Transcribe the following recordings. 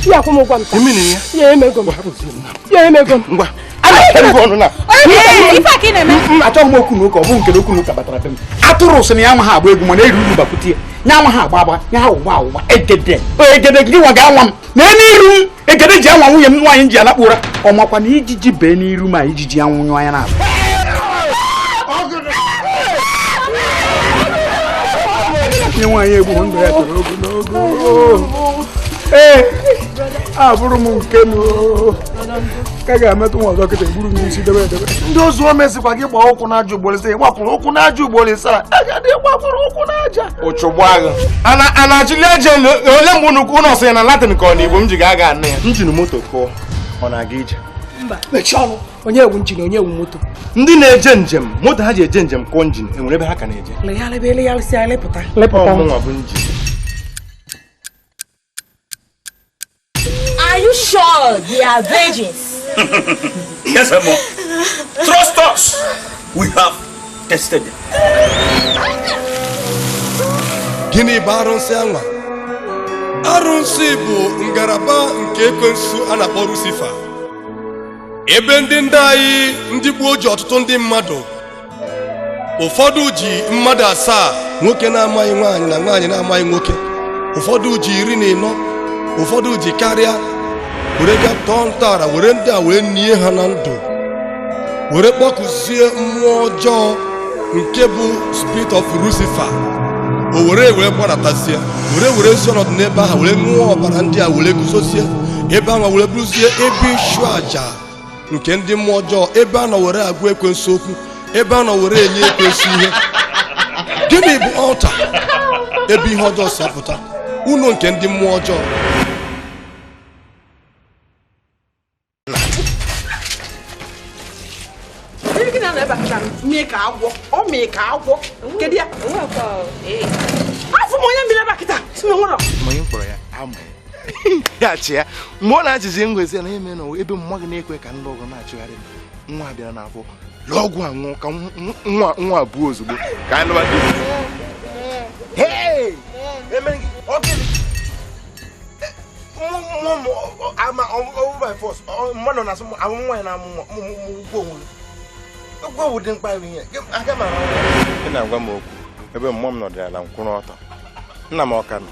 ya akwụ m ụgwọ m taa ya emego m ya emego m ngwa achọghị m okwu na ụka ọ bụ nke okwu na ụka batara be m atụrụ sị na ya nwa ha agba egwu mana eri uru bakwute ya nya nwa ha agba agba nya ha ụgba ụgba egede egede gị nwa ga-anwa m na n'iru m egede ji anwa nwunye m nwaanyị m ji alakpu ụra ọ makwa na ijiji bee n'iru m ijiji anwụ nyụọ anya n'azụ nye nwaanyị egbu ndụ ya toro ogologo ee abụrụ m nke m ka ga-emetụ nwa ọzọ kịta egburu m isi debe edebe ndị ozu o mezikwa gị gbaa ụkwụ n'aja ugboro ise ị gbakwụrụ ụkwụ n'aja ugboro ise a agadi gbakwụrụ ụkwụ n'aja ụchụgbagha ana ana achịli eje ole mgbe unu unu ọsị ya na latin ka ọ na igbo m ji ga aga anụ ya njin moto kụọ ọ na-aga ije mba mechie ọnụ onye wụ njin onye wụ moto ndị na-eje njem moto ha ji eje njem kụọ njin enwere ebe ha ka na-eje legharịba elegharịsị anya lepụta Ọ mụnwa bụ njin Are you sure they are virgins? yes, Emma. Trust us. We have tested them. Gịnị bụ arụsị anwa? Arụsị bụ ngalaba nke ekwensu a na-akpọ Lucifer. Ebe ndị ndị anyị ndị gboo ji ọtụtụ ndị mmadụ ụfọdụ ji mmadụ asaa nwoke na-amaghị nwaanyị na nwaanyị na-amaghị nwoke ụfọdụ ji iri na ịnọ ụfọdụ ji karịa were ga tọọ ntọala were ndị a wee nie ha na ndụ were kpọkuzie mmụọ ọjọọ nke bụ spirit of Lucifer o were wee gbadatazie were werezie ọnọdụ n'ebe ahụ were ṅụọ ọbara ndị a were guzozie ebe ahụ were bụrụzie ebe ịchụ aja nke ndị mmụọ ọjọọ ebe a nọ were agwa ekwensu okwu ebe a nọ were enye ekwensu ihe gịnị bụ ọlta ebe ihe ọjọọ si apụta ụlọ nke ndị mmụọ ọjọọ afọ m onye mmiri ebe a kịta si na nwụrọ gachi ya mgbe ọ na-ajụzi ngwezi na eme na ebe mma gị na-ekwe ka ndị ọgọ na-achụgharị nwa bịara n'afọ lụọ ọgwụ anwụọ ka nwa nwa abụọ ozugbo ka anyị lụwa mmadụ na-asụ amụ nwaanyị na-amụ nwa ụgwọ onwe ụgwọ owu dị mkpa ihe aga m ị na-agwa m okwu ebe mmụọ m nọdụ ala nkwụrụ ọtọ nna m ọka nọ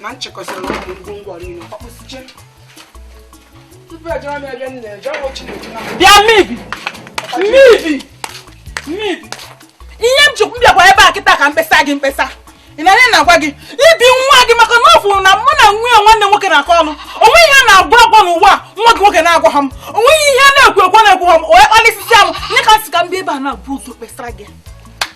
na m chịkọsịrị na ọgwụ ngwongwo niile ọkpụsiche tupu ejere m ebe m na-eje ọgwụ chineke na bịa mmebi mmebi mmebi ihe m chukwu bịakwa ebe a kịta ka m kpesara gị mkpesa ị na-anụ ihe m na-agwa gị ibi nwa gị maka na ọ fụrụ na mụ na nwunye nwanne m nwoke na-akọ ọnụ o nweghị ihe a na-agwa agwa n'ụwa a nwa gị nwoke na-agwa ha m o nweghị ihe a na-ekwu ekwu na-ekwu ha m onye kpalịsịsịa m nye ka m sị ka m bịa ebe a na-abụ ụzọ kpesara gị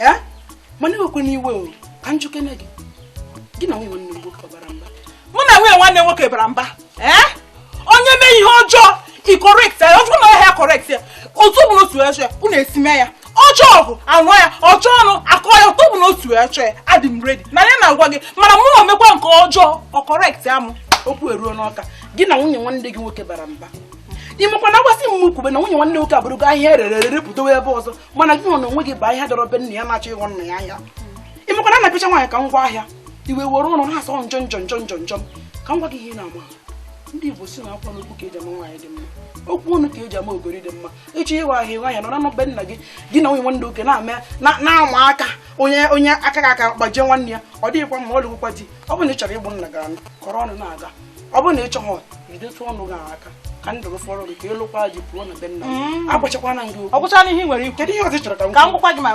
ee mana ewekwana iwe o ka m jụkene gị gị na nwunye nwanne gị nwoke bara mba mụ na nwunye nwanne m nwoke bara mba ee onye mee ihe ọjọọ i correct ya ọjọọ na ọhịa correct ya otu bụ n'otu eche ya unu esi mee ya ọjọọ ọgụ anụ ya ọjọọ ọnụ akọ ya otu bụ n'otu eche ya adị m ready na ya na-agwa gị mana mụ omekwa nke ọjọọ ọ correct ya mụ okwu eruo n'ọka gị na nwunye nwanne gị nwoke bara mba ị makwa na agwasị m kwube na nwunye nwanne nwoke abụrụgo ahịa e rere ere pụtawa ebe ọzọ mana gị nwa n'onwe gị bụ ahịa dọrọ be nna ya na-achọ ịghọ nna ya ahịa ị makwa na a na-apịcha nwaanyị ka ngwa ahịa iwe were ụlọ na-asọ njọ njọ njọ njọ njọ ka m gwa gị ihe ị na-ama ndị igbo sị na agwa na okwu ka e ji ama nwaanyị dị mma okwu ọnụ ka e ji ama ogori dị mma ịchọ ịwa ahịa nwaanyị nọrọ na be nna gị gị na nwunye nwanne gị nwoke na-ama na-ama aka onye onye aka ga-aka gbajie nwanne ya ọ dịghịkwa mma ọ lụgwụkwa di ọ bụrụ na ị chọrọ ịbụ nna ga-alụ kọrọ ọnụ na-aga ọ bụrụ na ị chọghị jidetu ọnụ gị aka ka ndụ gị fọrọ gị ka ị lụkwaa di pụọ na be nna gị agwachakwana m gị okwu ọ gwụchana ihe m nwere ikwu kedu ihe ọzọ ị chọrọ ka m ka m gwakwa gị ma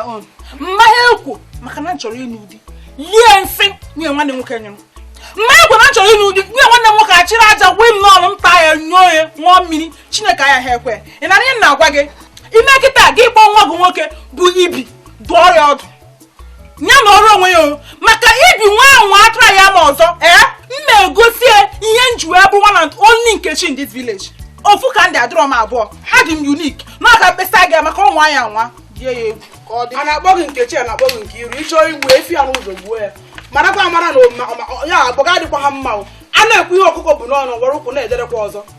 m ma ha ekwe maka na m chọrọ ịnụ di lie nsị nwunye nwanne m nwoke nyụrụ m ma ha ekwe na m chọrọ ịnụ di nwunye nwanne m nwoke achịrị aja gwe m n'ọnụ m taa ya noo ya ṅụọ mmiri chineke aya ha ekwe ị na-anụ ihe m na-agwa gị ime kịta gị kpọọ nwa gị nwoke bụ ibi dụọ ya ọdụ ya nọrọ onwe ya maka ibi nwa ahụ nwa atụrụ ya ma ọzọ ee eh? m egosi ya ihe m ji wee bụ one and only nkechi in this village ofu ka m dị adịrọ m abụọ adị m unique na ka m kpesara gị maka ọ nwaa ya anwa die ya egwu ka ọ dị a na-akpọ gị nkechi a na-akpọ gị nkiru ị chọọ igbu efi ya n'ụzọ gbuo ya marakwa amara na ya bụ agwa adịkwa ha mma a na-ekwu ihe ọkụkọ bu n'ọnụ were ụkwụ na-ederekwa ọzọ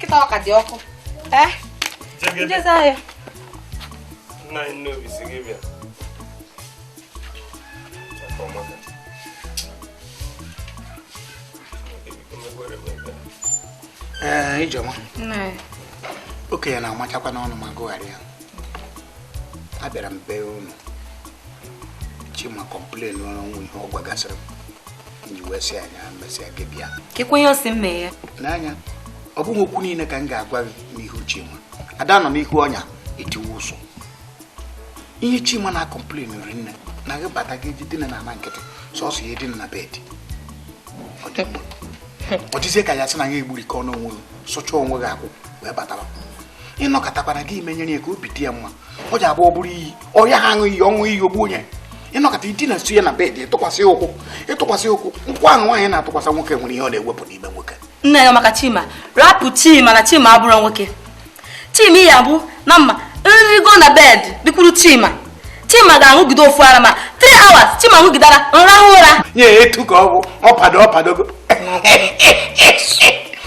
kịta ọ ka dị ọkụ eh? m jezie ahịa nna anyị n'obi sị gị bịa ee eh, ijeọma okenye na-amachakwa n'ọnụ ma gụgharịa abịara m be unu chima complainrụ o nwere ihe ọ gwagasịrị m kekwa ihe ọ sị m mee ya n'anya ọ bụghị okwu niile ka m ga-agwa gị n'ihu Chima a da anọ n'ihu ọnya etiwe ụsụ ihe Chima na-acomplainrị m na gị bata gị je dina n'ana nkịtị sọsọ ya edina na bed ọ dịzie ka ya sị na ya egburikọ n'onwe gị sụcha onwe gị akwụ wee batara ị nọkatakwanụ gị menyere ya ka obi dị ya mma ọ ji abụọ bụrụ iyi ọrịa ha aṅụ iyi ọṅụ iyi ogbu onye ị nọkata i dina nso ya na bed ịtụkwasị ụkwụ ịtụkwasị ụkwụ nke ahụ nwaanyị na-atụkwasị nwoke nwere ihe ọ na-ewepụ n'ime nwoke nna anyị maka chima rapụ chima na chima abụrọ nwoke chima ihe bụ na mma nrigo na bed bikwuru chima chima ga-aṅụgide ofu ara ma 3 hours chima ṅụgide ara m rahụ ụra nye etu ka ọ bụ ọ pado ọ padogo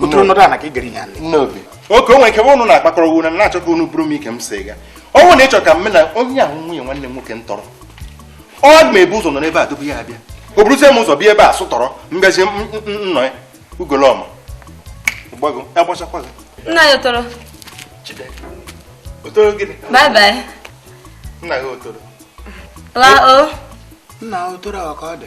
otu ọnọdụ a na ka ị gara ihe a nne obi oke o nwere ike bụ unu na-akpakọrọ unu na-achọ ka unu bụrụ m ike m si ga ọ bụrụ na ị chọrọ ka m na onye ahụ nwunye nwanne m nwoke m tọrọ ọ m bu ụzọ nọ n'ebe a tupu ya abịa o buruzie m ụzọ bịa ebe a sụtọrọ mgazi m- m- m- nnọ ya ugolọma gbago agbachakwa gị nna anyị otoro otoro gịnị bye bye nna anyị otoro laa o nna otoro ọ ka ọ dị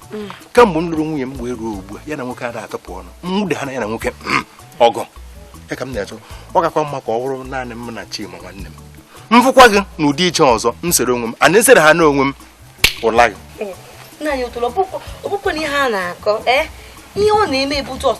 kamgbe m lụrụ nwunye m wee ruo ugbu a ya na nwoke ada atụpụ ọnụ m nwude ha na ya na nwoke mm, ọgwụ ya ka m na-achọ ọ kakwa mma ka ọ bụrụ naanị m na Chima nwanne m m fụkwa gị n'ụdị iche ọzọ m sere onwe m a na-esere ha n'onwe m ụla gị nna anyị otolo ọ bụkwa na ihe a na-akọ eh? ihe ọ na-eme bụ just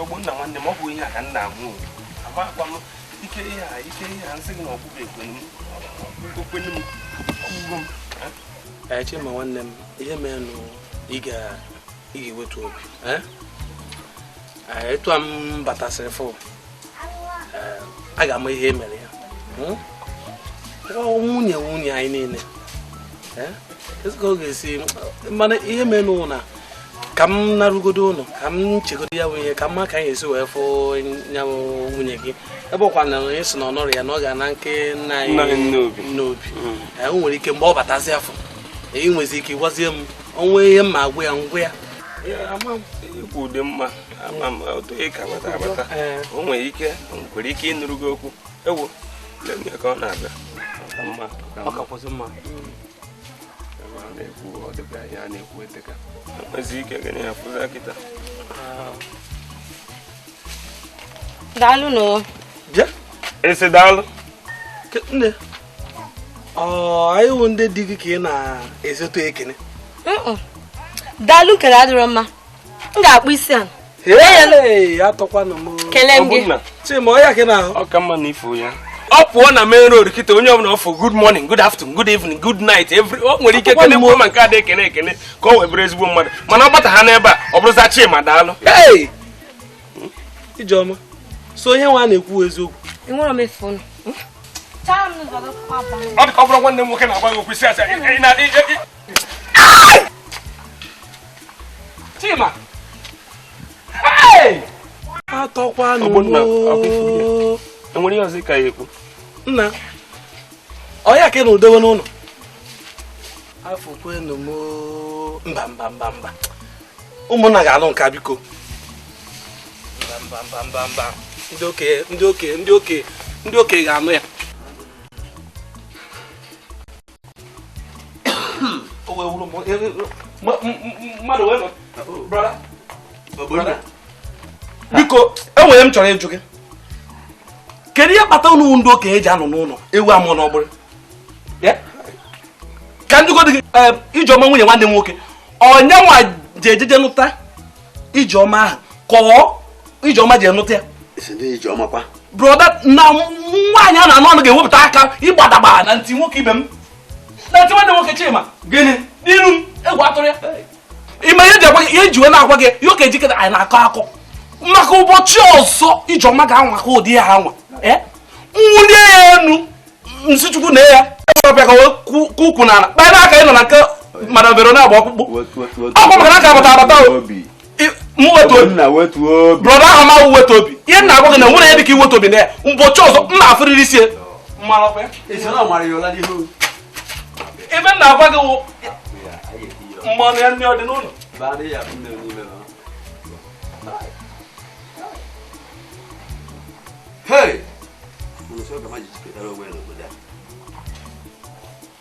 ogbonna nwanne m ọ bụ ihe a ka nna amụ amakwa m ike ihe a ike ihe a m sị gị na ọkpụkpọ ekwenu m okwenu m ọgwụgwọ m chima nwanne m ihe merenụ ị ga-ewetu obi Eh, etu a m batasịrị fụ eh, a ga-ama ihe e mere ya hmm? nwunye nwunye anyị niile eh? kezi ka ọ ga-esi mara ihe mere n'ụlọ na ka m narugodo ụlọ ka m chegodo ya bụ ihe ka m ma ka anyị esi wee fụ ya nwunye gị ebe ọ kwa na onye sị na ọ nọrọ ya na ọ ga na nke nna anyị n'obi hmm. o nwere ike mgbe ọ batazi afọ ị nwezi ike ịgwazie m o nwee ihe m ma agwa ya m gwa ya ikwu ụdị mma ama m otu ị ka bata abata o nwere ike nwere ike ịnụrụ gị okwu ewu lee ka ọ na-abịa mma ọ kakwụsị mma na-ekwu ọ dịka ihe a na-ekwu eteka nwezi ike gị na ya fụza kịta daalụ na ọ bịa esi daalụ nne anyị wụ ndị di gị ka ị na-ezote ekene daalụ kele adịrọ mma m ga-akpụ isi a atọkwanụ m kele m gị chima ọya gị na-ahụ ọ ka mma na ị fụ ya ọ pụọ na main road kịta onye ọbụla ọ fụ good morning good afternoon good evening good night every o nwere ike kele mgbe ma nke ada ekene ekene ka o wee bụrụ ezigbo mmadụ mana ọ bataha n'ebe a ọ bụrụza chima daalụ ijeọma so onye nwa na-ekwu eziokwu ọ dị ka ọ bụrụ nwanne m nwoke na-agwa gị okwu ị si asị Chima atọkwanụ enwere ihe ọzọ ka ya ekwu na ọ ya ka ị na-edowe n'ụlọ afụkwanụ m mba mba mba mba ụmụnna ga-anụ nke a biko ndị okenye ndị okenye ndị okenye ndị okenye ga-anụ ya mmadụ wee biko enwere ihe m chọrọ ịjụ gị kedu ihe kpata unu ndị okenye ji anọ n'ụlọ ewu amụọ n'ọgbụrị ka m jụgodi gị eh, ijeọma nwunye nwanne m nwoke ọ nya nwa ji ejeje nụta ijeọma ahụ ka ọ ijeọma ji enụta ya brọda na nwaanyị a na-anụ anụ ga-ewepụta aka ịgbadagba na ntị nwoke ibe m na ntị nwanne m nwoke Chima gịnị n'iru m egwu atụrọ ya ime ihe ihe m ji wee na-agwa gị ya ọ ka i jikere anyị na-akọ akọ maka ụbọchị ọzọ ijeọma ga-anwa ka ụdị ya anwa nwụlie ya enu m sị chukwu na ya ọ bịa ka ukwu na ala kpaa n'aka ị nọ na nke madam verona agba ọkpụkpụ ọkwa maka na m ka abata abata brọda ahụ ma wetu obi ihe m na-agwa gị na nwere ya dịka iwetu obi na ya ụbọchị ọzọ m na-afụrịrị isi ebe m na-agwa gị mmanụ ya nne ọ dị n'ụlọ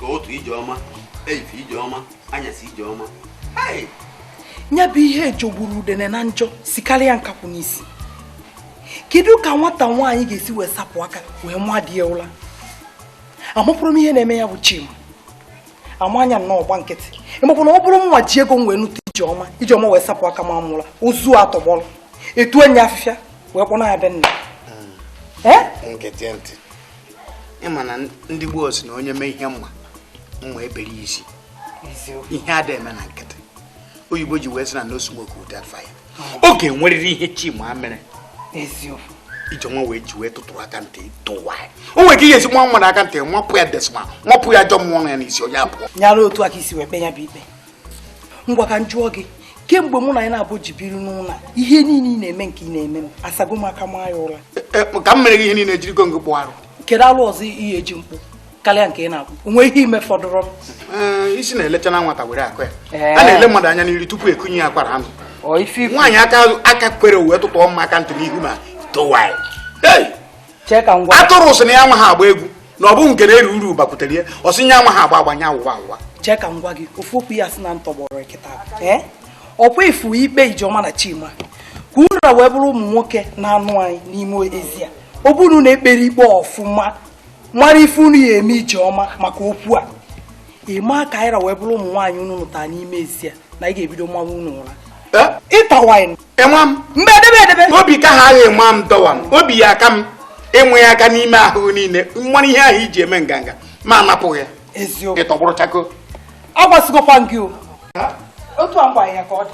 ụtụtụ ijeọma efifie ijeọma anyasị ijeọma ya bụ ihe jọgburu udene na njọ sikarịa nkakwụ n'isi kedu ka nwata nwaanyị ga-esi wee sapụ aka wee maa di ya ụra amụpụrụ m ihe na-eme ya bụ Chima a maa nya nnọọ ọ gba nkịtị ịmakwa na ọ bụrụ mụ nwa ji ego m wee nụta ijeọma ijeọma wee sapụ aka maa m ụla ozu atọgbọrọ etunye afịfịa wee kpọna ya be nna hmm. ịma na ndị gboo si na onye mee ihe mma mma ebere isi ihe ada eme na nkịtị oyibo ji wee sị na no smoke without fire ọ ga-enwerịrị ihe chima mere eziokwu ijeọma nwa ji wee tụtụrụ aka ntị tụwa ya o nwere ike ihe esi nwa mmadụ aka ntị nwapụ ya desma nwapụ ya ajọ mmụọ ya n'isi onye abụọ nyara otu aka isi wee kpe ya bụ ikpe ngwa ka m jụọ gị kemgbe mụ na ngị naabọ ji biri n'ụlọ ihe niile ị na-eme nke ị na-eme m asago m aka maa ya ụra e, e, ka m mere gị ihe niile ejirigo ngị kpụ arụ kedu alụ ọzọ ị ya-eji m kpụ karịa nke ị na-akwụ onwe ihe ime fọdụrụ eh, isi na-elecha na nwata were akụ ya eh. a na-ele mmadụ anya n'iru tupu ekunye ya akwara anụ nwaanyị aka kwere uwe tụtụ ọma aka ntị n'ihu ma towa atụrụ sị na ya amaha agba egwu na ọ bụ nke na-eri uru bakwutere ya ọ sị nya amaha agba agba nya awụwa awụwa chee ka m gwa gị ofu okwu ya si na ntọgbọrọ nkịta eh? ọkwa ifu ikpe ijeọma na chima ka unu wee bụrụ ụmụ nwoke na-anụ anyị n'ime ezi a ọ bụrụ na ekpere ikpe ọfụma mara ife unu ya eme Ijeọma maka okwu a ịma ka anyị ra wee bụrụ ụmụ nwaanyị unu nụtara n'ime ezi a na anyị ga-ebido mawa unu ụra tawai ịnwa m mgbe edebe edebe obi ka ha agha ịma m dọwa m obi ya aka m ịnwe ya aka n'ime ahụ niile mmanụ ihe ahụ o ji eme nganga ma anapụghị ya eziokwu ịtọgbụrụ chakoo agwasịgokwa gị o otu a ngwa ya ka ọ dị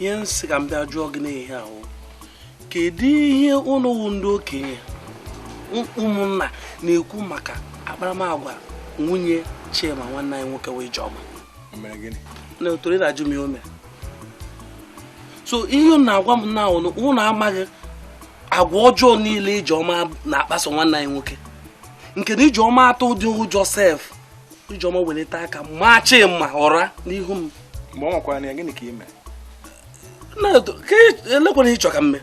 ihe m sị ka m bịa jụọ gị n'ihe a wụ kedu ihe unu wụ ndị okenye ụmụnna na-ekwu maka akparamagwa nwunye Chima nwanne anyị nwoke wụ Ijeọma na otoro ị na-ajụ m ihe o mere so ihe unu na-agwa m na unu unu amaghị agwa ọjọọ niile Ijeọma na-akpaso nwanne anyị nwoke nke na Ijeọma atụdịghị ụjọ sef ijeọma welite aka maa chima ụra n'ihu m mgbe ọ nwakwara na ya gịnị ka ime elekwanụ ihe ị chọ ka m mee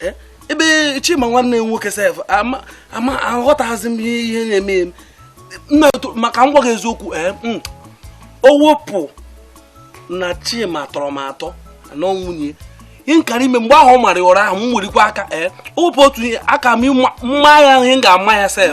e, ebe chima nwanne m nwoke sef ama aghọtaghịzi m ihe na-eme eme ma ka m gwa gị eziokwu ee eh, mm, o wepụ na chima tọrọ m atọ na nwunye ihe m kara ime mgbe ahụ ọ mara ụra ahụ m welikwa aka ee eh, o wepụ otu ihe aka m ịma ya ihe m ga-ama ya sef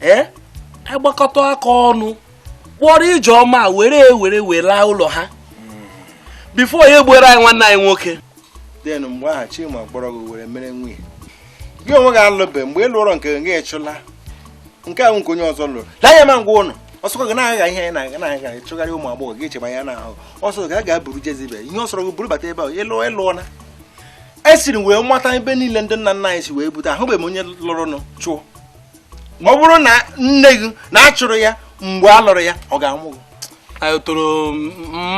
anyị gbakọta aka ọnụ kpọrọ ijeọma were were were laa ụlọ ha before ya egbuoro anyị nwanne anyị nwoke then mgbe ahụ chima kpọrọ gị were mere nwunye gị onwe gị alụbe mgbe ị lụrọ nke gị achụla nke ahụ nke onye ọzọ lụrụ lee ya ma ngwa ụlọ ọsọkọ gị na-agha ihe anyị na-aga na-aga ịchụgharị ụmụ agbọghọ gị echeba ya n'ahụ ọ sọ gị a ga-aburu Jezebel ihe ọ sọrọ gị buru bata ebe ahụ ị lụọ ị lụọ na esiri wee mata ebe niile ndị nna nna anyị si wee bute ahụbeghị m onye lụrụnụ chụọ ọ bụrụ na nne gị na a chụrụ ya mgbe a lụrụ ya ọ ga-amụ gị anyị toro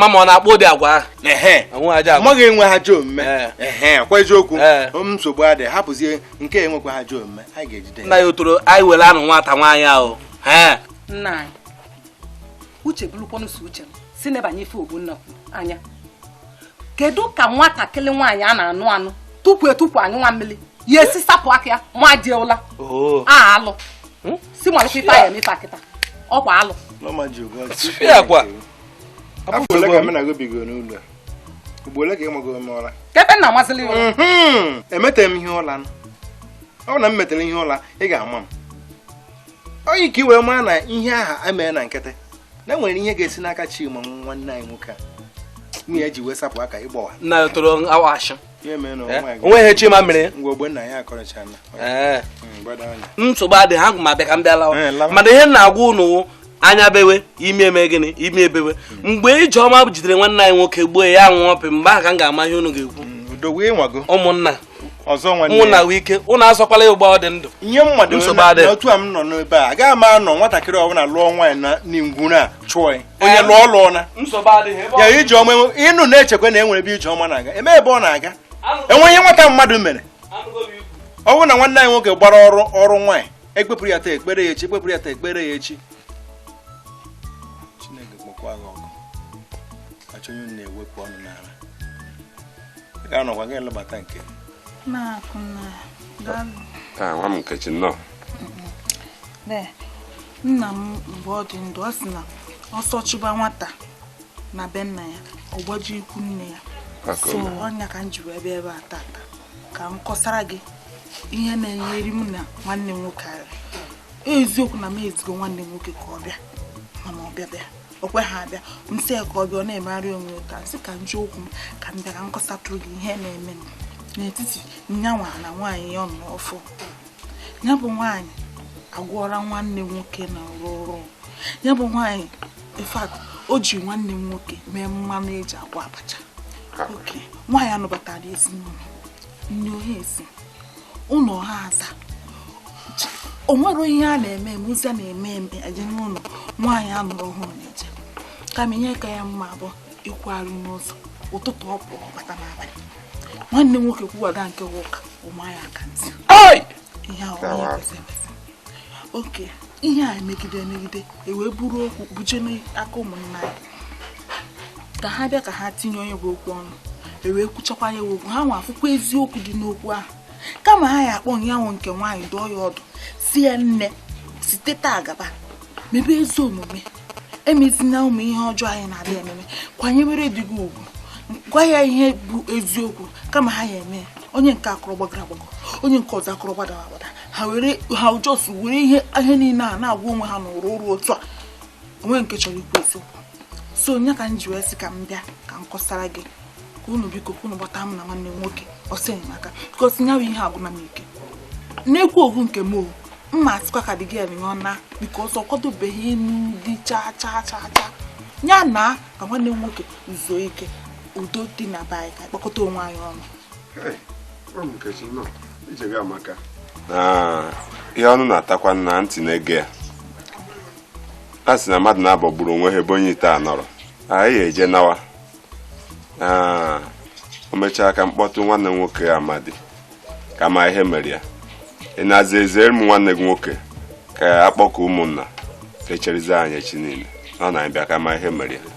mama ọ na-akpa ụdị agwa ahụ ehe Onwe ajọ agwa. mama gị enweha ajọ omume Ee. ehe kwa eziokwu Ee. m nsogbu adịghị hapụzie nke enwekwaha ajọ omume anyị ga-ejide ya. nna ya otoro anyị were anụ nwata nwaanyị ahụ ee nna anyị uche bụrụkwanụ so uche m si nebanye ife Ogbonna kwuru anya kedu ka nwatakịrị nwaanyị a na-anụ anụ tupu etupu anyụ nwa mmiri ya esi sapụ aka ya ma di ụla oh. a alụ hmm? si malite ife ya emefe akịta ọkwa alụ kebe nna amazịla ya hmm. emetere m ihe ụla ọ bụ na m metere ihe ụla ị ga-ama m onye ka i wee mara na ihe aha emere na nkịtị na e nwere ihe ga-esi n'aka Chima nwanne anyị nwoke a nwunye ya ji wee sapụ aka ịgbawa nna ya toro awa ashị onwe ihe Chima mere ngwa Ogbonnaya akọrọchala nsogbu adị ha ka m bịa ka m bịa lawa mana ihe m na-agwa ụnụ anya bewe imi emee gịnị imi ebewe mgbe Ijeọma jidere nwanne anyị nwoke gbuo ya nwụọ pị mgbe ahụ ka m ga-ama ihe unu ga-ekwu mm, ụmụnna ọzọ nwanne mụ na nwee ike ụnụ azọkwala ya ugbu a ọ dị ndụ ihe mmadụ Nsogbu adịghị. na otu a m nọ n'ebe a agaghị m anọ nwatakịrị ọbụla lụọ nwaanyị na ngwuru a chụọ ya onye lụọ lụọ na nsogbu adịghị ebe ya ọ- ijeọma enwe- ụnụ na-echekwa na e nwere ebe ijeọma na-aga enwe ebe ọ na-aga Anụgo- enwe ihe nwata mmadụ mere anụgo m ikwu. ọ bụrụ na nwanne anyị nwoke gbara oru nwaanyị ekpepụrụ ya taa ekpere ya echi ekpepụrụ ya taa ekpere ya echi Chineke kpọkwa gị ọkụ achọ onye unu na-ewepụ ọnụ n'ala ga-anọkwa gị elebata nke taa nwa m nkechi nnọọ nna m mgbe ọ dị ndụ ọ sị na ọsọ chụba nwata na be nna ya ọ gbaje ikwu nne ya so ọ nya ka m ji wee bịa ebe a tata ka m kọsara gị ihe na-enyeri m na nwanne m nwoke ara eziokwu na m ezigo nwanne m nwoke ka ọ bịa mana ọbịabịa o kwe ha abịa m sị ya ka ọ bịa ọ na-emegharị onwe taa m sị ka m ji ụkwụ m ka m bịa ka m kọsatụrụ gị ihe na-eme n'etiti nyanwa na nwaanyị ya ọ nụ ọfụụ ya bụ nwaanyị agwọọla nwanne m nwoke na rụrụ ya bụ nwaanyị in fact o ji nwanne m nwoke mee mmanụ eji agwọ abacha ok nwaanyị a nụbatara ezinụlọ ụlọ ha aza o nwere ihe a na-eme eme ozi a na-eme eme eje n'ụlọ nwaanyị a nụrụ ọhụrụ na-eje kama ihe ka ya mma bụ ịkwụgharị n'ụzọ ụtụtụ ọ pụọ bata n'abalị nwanne m nwoke kwuwaga nke ụka ọ maa ya aka ntị ihe ahụ oke ihe a emegide emegide ewee buru okwu buje n'aka ụmụnna ya ka ha bịa ka ha tinye nya bụ okwu ọnụ ewee kwuchakwa ya okwu ha nwa afụkwa eziokwu dị n'okwu ahụ kama ha ya akpọ nyanwa nke nwaanyị dụọ ya ọdụ sị ya nne site taa gaba mebe ezi omume emezina ụmụ ihe ọjọọ a ị na-adị eme eme kwanyewere di gị ugwu gwa ya ihe bụ eziokwu kama ha ya eme onye nke a akọrọ gbagoro agbago onye nke ọzọ akọrọ gbadara agbada ha were ha just were ihe ihe niile a na-agwa onwe ha n'ụrụ ụrụ otu a o nwee nke chọrọ ikwu eziokwu so ọ ya ka m ji wee sị ka m bịa ka m kọsara gị ka unu biko ka unu gbata m na nwanne m nwoke ọsọ enyemaka because nyawa ihe agwụna m ike na-ekwu okwu nke m o mma asịkwa ka dị gị eme ọ naa because ọ kwadobeghị ịnụ di chaa chaa chaa chaa ya naa ka nwanne m nwoke zuo ike udo dị na be anyị ka kpọkọta onwe anyị ọnụ ihe ọnụ na-atakwa na ntị na-ege ya a sị na mmadụ naabọ gburu onwe ha ebe onye ite a nọrọ anyị eje nawa o mechaa ka m kpọtụ nwanne m nwoke Amadi ka m ma ihe mere ya ị na-aza ezere m nwanne gị nwoke ka a kpọkọọ ụmụnna ka e cherizie anyị echi niile ọ na-abịa ka m ma ihe mere ya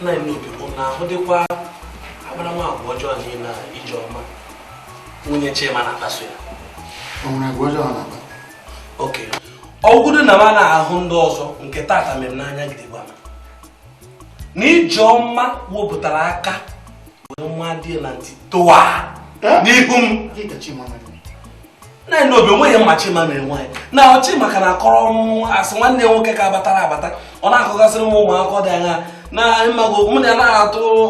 nna anyị Obi bụ na ahụ dịkwa akparamagwa ọjọọ niile Ijeọma nwunye Chima na-akpaso ya o nwere agwa ọjọọ na-akpa okay ọ bụgodu na m ana-ahụ ndị ọzọ nke tata mere n'anya gidigba na Ijeọma wepụtara aka wee maa di na ntị tụwa n'ihu m nna anyị Obi o nweghị ihe m ma Chima mere nwaanyị na ọchị maka na akọrọ m asị nwanne m nwoke ka batara abata ọ na-akọgasịrị m ụmụ akụkọ dị anya na mmago mụ na ya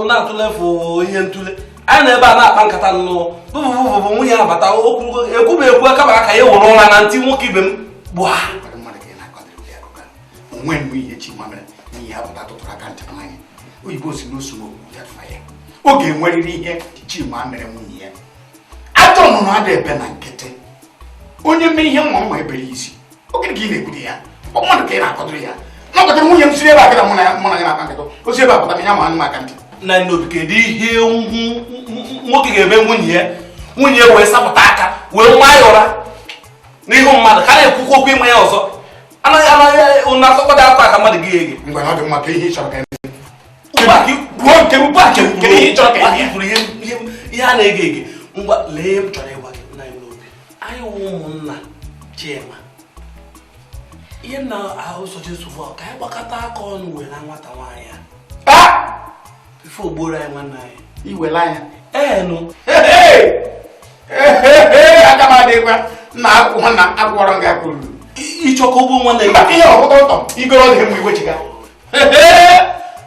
na-atụlefu ihe ntụle anyị nọ ebe a na-akpa nkata m nụọ bụbụbụbụ nwunye abata okwurugo e kwuba ekwu a kaba aka ya were ụra na ntị nwoke ibe m gbụa o nwe mgbe ihe Chima mere n'ihe apụta tụtụrụ aka ntị n'anya oyibo sị n'osu n'okwu ya ọ ga-enwerịrị ihe Chima mere nwunye ajọ nnụnụ ada ebe na nkịtị onye mee ihe nwa nwa ebere isi oge ka ị na-ekwute ya ọ mmadụ ka ị na-akọdụrụ ya nakọtara nwunye m siri ebe a gara mụ na ya mụ na ya na-akpa nkata o si ebe a pụtara ya maanụ m aka ntị nna anyị Obi kedu ihe nwoke ga-eme nwunye ya nwunye ya wee sapụta aka wee maa ya ụra n'ihu mmadụ ka na-ekwukwu okwu ịma ya ọzọ anaghị anaghị ụna asọkọta akwa aka mmadụ gị ege ngwa na ọ dị mma ka ihe ị chọrọ ka ihe a na-ege ege ngwa lee ihe m chọrọ ịgwa gị nna anyị Obi anyị wụ ụmụnna Chima ihe nna ahụ sochi nsogbu ka anyị gbakọta aka ọnụ were nwata nwaanyị ya ife ogboro anyị nwanne anyị iwere anya ee nụ aga m adịkwa na akwụkwọ na akwụkwọrọ gị akwụrụ ị chọ ka o gbuo nwanne gị ihe ọkụtọ ụtọ igoro dị mgbe iwechiga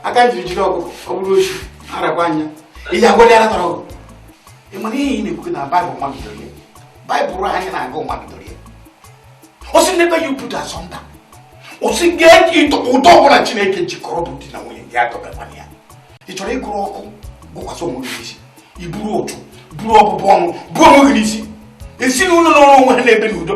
aka njiri jiri ọgụ ọ bụrụ ochi arakwa anya ihe agwọdị ara tọrọ ọgụ ị mara ihe ị na-ekwu na baịbụl nwa bidoro ya baịbụl anyị na-agụ nwa bidoro ya o si n'ebe ya uputa asọmpa o si ga-eji ụtọ ọbụla chineke jikọrọ bụ di na nwunye ndị atọbakwana ya ị chọrọ ịgụrụ ọkụ gụkwasị onwe gị n'isi iburu ụchụ buru ọbụbụ ọnụ buo onwe gị n'isi ezinụlọ nọọrọ onwe ha na-ebi n'udo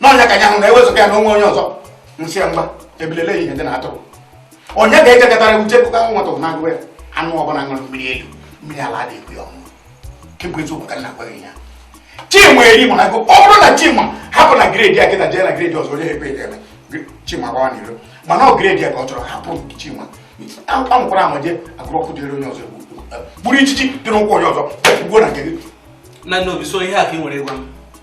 n'ọnya ka ya hụ na ewezụga ya na o nwe onye ọzọ nsị ya mgba ebilele ihe ndị na-atụrụ onye ga-ejegatara uche kụka nwata na-agụ ya anụ ọbụla ṅụrụ mmiri elu mmiri ala adị ekwe ya ọṅụ kemgbe eziokwu ka m na-agwa gị ya chinwa eri mụ na gụ ọ bụrụ na chinwa hapụ ngwuru di ya kịta jee ngwuru di ọzọ onye ekwe ya eme chinwa gbawa n'iro mana ọ ngwuru di ya ka ọ chọrọ hapụ chinwa anwụkwara anwa jee agụrụ ọkụ dịrị onye ọzọ gburu ijiji dị n'ụkwụ onye ọzọ gbuo na nke gị na nna obi so ihe a ka i nwere ịgwa m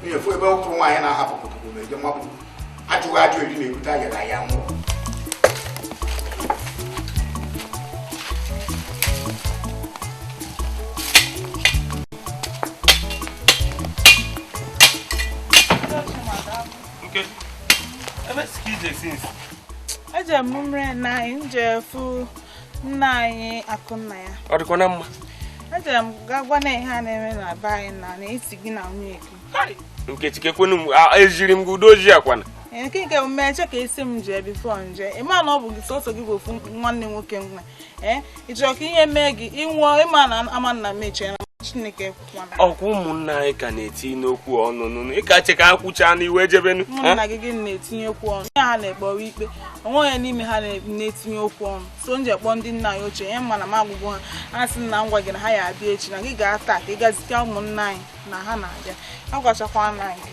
nwunye fụ ebe ụkwụ nwaanyị na-ahapụ pụtụpụ ma eje mabụ ajụghị ajụ eri na-ebute ayara aya nwụọ Ebe si ka ije sinsi? Eje m mere na m jee fụ nna anyị akụnnaya ọ dịkwa na mma ejere m ga gwa na ihe a na-eme na be anyị na n'isi gị na nwunye gị nkechi kekwenu m ejiri m gị udo ojii akwana nke nke m mee che ka ị sị m jee before m jee ị ma na ọ bụ gị sọsọ gị bụ ofu nwanne nwoke m nwe ee ị chọrọ ka ihe mee gị ị nwụọ ị ma na ama nna m echiena chineke ọ kwa ụmụnna anyị ka na-etinye okwu ọnụ nụnụ ị ka-eche ka ha kwuchaa nụ i wee jebenu ụmụnna gị gịnị na-etinye okwu ọnụ ya ha na-ekpere ikpe o nwe onye n'ime ha na-etinye okwu ọnụ so m jee kpọọ ndị nna anyị ochie ihe m ma na m agwagwo ha ha sị na m gwa gị na ha ya-abịa echi na gị gaa taa ka ị gazite ụmụnna anyị na ha na-abịa agwachakwa nna anyị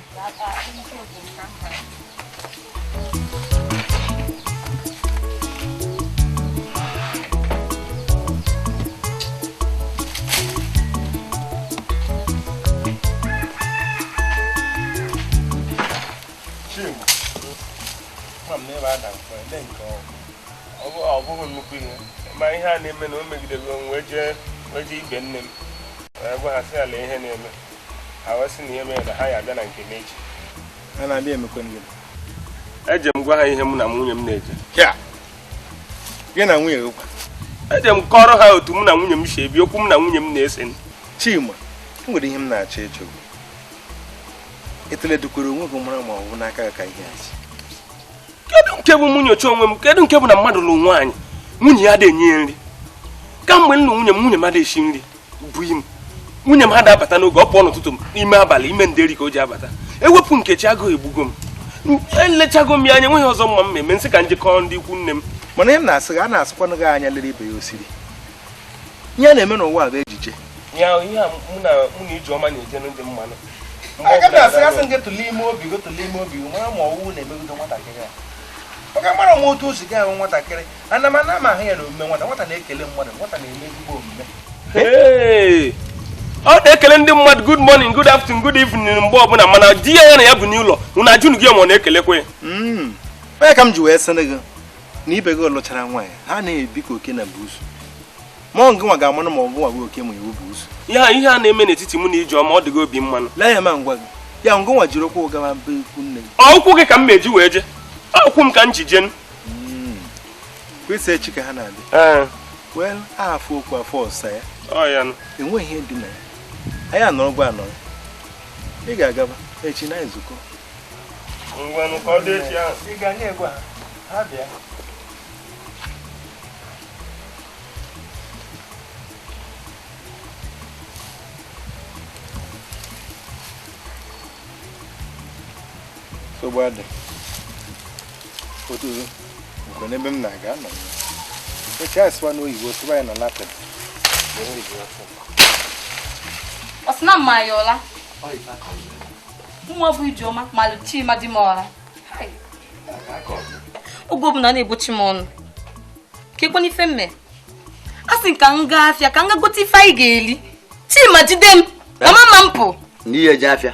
ọ bụghị nnukwu ihe ma ihe a na-eme na o megidere m wee jee ibe nne m wee gwa ha sị ha lee ihe na-eme ha wee sị na ihe mere na ha ya-abịa na nke m echi eje m gwa ha ihe mụ na nwunye m na-eje gị na nwunye gị eje m kọrọ ha otu mụ na nwunye m si ebi okwu mụ na nwunye m na-ese Chima e nwere ihe m na-eche eche i tulekwara onwe gị mara ma ọ bụ n'aka ka ihe a shi kedu nke bụ m nyocha onwe m kedu nke bụ na mmadụ lụrụ nwaanyị nwunye ya adị enye ya nri kamgbe m lụrụ nwunye m nwunye m adịghị esi nri buyi m nwunye m ha da-abata n'oge ọ pụọ n'ụtụtụ m n'ime abalị ime nderi ka o ji abata ewepụ nkechi agụụ egbugo m elechago m ya anya nweghị ọzọ m ma-eme m sị ka m jekwu ndị ikwu nne m mana ihe m na-asị a na-asịkwanụ gị anya lere ibe ya ọ sịrị ihe a na-eme n'ụwa bụ ejije ya ihe a mụ na mụ na ijeọma na-eje ndị mmanụ aga m asị asị gị tụlee ime obi gị tụlee ime obi mara ma ọwụwụ na-emegido nwatakịrị a maka mara nwa otu o si gị ahụ nwatakịrị ana m ana m ahụ ya na omume nwata nwata na-ekele mmadụ nwata na-eme ezigbo omume Hey! ọ na-ekele ndị mmadụ good morning good afternoon good evening mgbe ọbụla mana di ya ya na ya bu n'ụlọ unu ajụnụgo ya ma ọ na-ekelekwa ya Mm. ọ ya ka m ji wee sịrị gị na ibe gị lụchara nwaanyị ha na-ebi ka oke na buusu ma ọ ngị nwa ga-amanụ ma ọ gị nwa bụ oke ma ị wụ buusu ihe a ihe a na-eme n'etiti mụ na ijeọma ọ dịghị obi mmanụ lee ya ma ngwa gị ya ngị nwa jiri ụkwụ gawa be ikwu nne gị ọ ụkwụ gị ka m ma-eji wee je ọ ụkwụ m ka m ji jenụ hmm. kwesị echi ka ha na-abịa eh. wel afụ okwu afụ ọsa ya enweghị ihe dị na ya anyị anọrọkwa anọrọ ị ga-agaba echi na nzukọ nsogbu adị n'ebe m na-aga nọ oche a sụwa n'oyibo sụwa ya na latin ọ sị na m ma ya ụla nwa bụ ijeọma malụ chima di m ụra oge ọbụla na-egbochi m ọnụ ka ekwe n'ife mme a sị ka m gaa afịa ka m ga gote ife anyị ga-eli chima jide m mama ma m pụ n'ihe ji afịa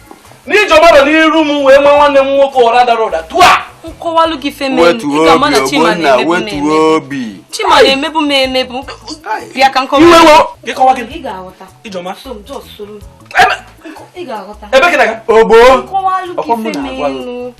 na ijeọma nọ n'iru m wee maa nwanne m nwoke ụra dara ụda tua m kọwalụ gị chima na-emebu m emebu bịa ka m kọwa ebe gị na-aga ogbo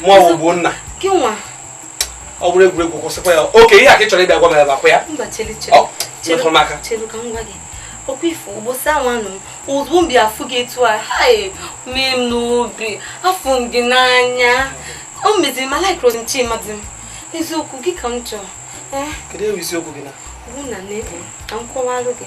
mụ bụ ogbonna ọ bụrụ egwuregwu kwụsịkwa ya okay ihe a ka ị chọrọ ịbịa gwa m ya bakwa ya metụrụ m aka ọkwa ị fụ ụbọchị ahụ anụ m ozugbo m bịa afụ gị etu a mee m n'obi afụ m gị n'anya o meziri m alaikrọ m chima di m eziokwu gị ka m chọrọ eh? kedu ewu isiokwu gị na bụ na na-ekpo ka m kọwalụ gị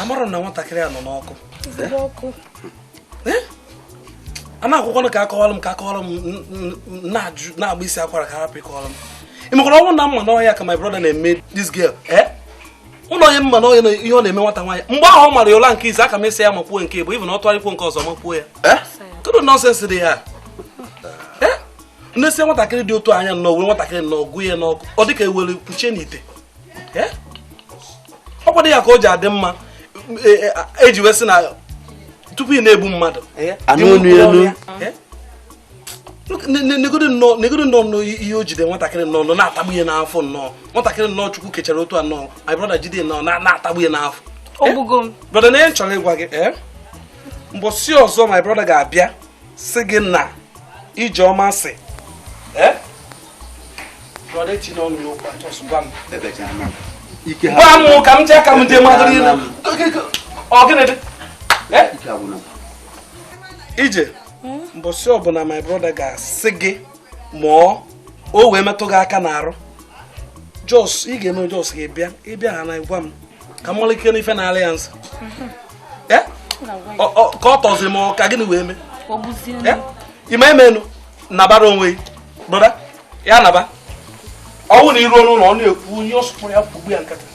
amarọ na nwatakịrị a nọ n'ọkụ a na-ekwukwa ka a kọwara m ka a kọwara m na-agba isi akwara ka a hapụ ịkọwara m ị makwara ọ wụ na m ma na ọ ihe a ka my brother na-eme this girl eh ụlọ onye mma na onye ihe ọ na-eme nwata nwaanyị mgbe ahụ ọ mara ya ụla nke ise aka m esi ya makwuo nke bụ ibu na ọ tụgharịkwo nke ọzọ makwuo ya eh? kedu nonsense dị ya eh? nesie nwatakịrị dị otu a anya nnọọ were nwatakịrị nnọọ gụ ya n'ọkụ ọ dịka e were kpuchie n'ite eh? ọ kwadị ya ka o ji adị mma eji e, e wee sị na tupu ị na-egbu mmadụ anụ elu negodu nnọọ nnọọ ihe o jide nwatakịrị nnọọ nọ na-atagbu ya n'afụfụ nnọọ nwatakịrị nnọọ chukwu kechara otu a nnọọ my brother jide nnọọ na-atagbu ya n'afụfụ eh? brother na ihe m chọrọ ịgwa gị ee eh? mbọsị ọzọ my brother ga-abịa sị gị na ijeọma sị eh? brother etinye ọnụ n'okwu a just gwa m gwa m ka m jee ka m jee mmadụ niile ọ gịnị dị ije hmm? mbọsị ọbụla my brother ga-asị gị mụọ o wee metụ gị aka n'arụ just ị ga-eme just gị bịa ị bịa ha na gwa m ka m malike n'ife na alliance hmm. eh? ka ọ tọzi m ka gịnị wee mee eh? ime emenu nabara onwe gị brother ya naba ọ wụ na i ruo n'ụlọ ọ na-ekwu onye ọsụpụrụ ya kwugbu ya nkata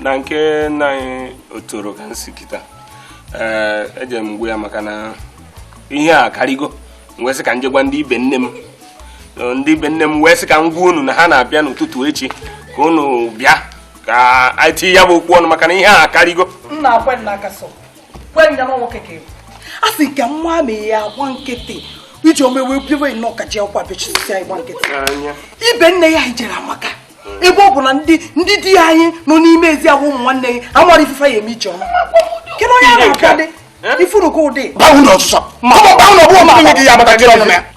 na nke nna anyị otoro ka nsị kịta ee eh, eje m gwa ya maka na ihe a karịgo m wee sị ka m jee gwa ndị ibe nne m eh, ndị ibe nne m wee sị ka m gwa unu na ha na-abịa n'ụtụtụ echi ka unu bịa ka anyị tinye ya bụ okwu ọnụ maka na ihe a karịgo nna akwe nna aka sọ kwe nna nwoke ka ị bụ a sị ka nwa ma ya agba nkịtị ijeọma wee bewe nnọọ ka o ji akwa bechisi anyị gba nkịtị ibe nne ya ị jere amaka ebe ọ bụ na ndị ndị di anyị nọ n'ime ezi ahụ ụmụ nwanne gị amarọ ife fa ya-eme ijeọma kedu onye a na-akadị i furugo ụdị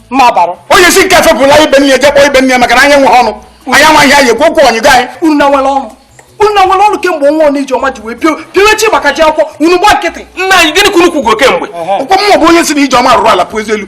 mma bara onye si nke fepụla ibe nne jee kpọọ ibe nne maka na anyị enwe ọnụ anyị enwe ihe anyị ekwu okwu ọ nyịgo anyị unu na nwere ọnụ unu na nwere ọnụ kemgbe nwa ọnụ ijeọma ji wee pio piowe chi maka ji akwụkwọ unu gba nkịtị nna anyị gịnị ka unu kwugo kemgbe ụkwụ mmụọ bụ onye sị na ijeọma rụrụ ala pụọ ezi elu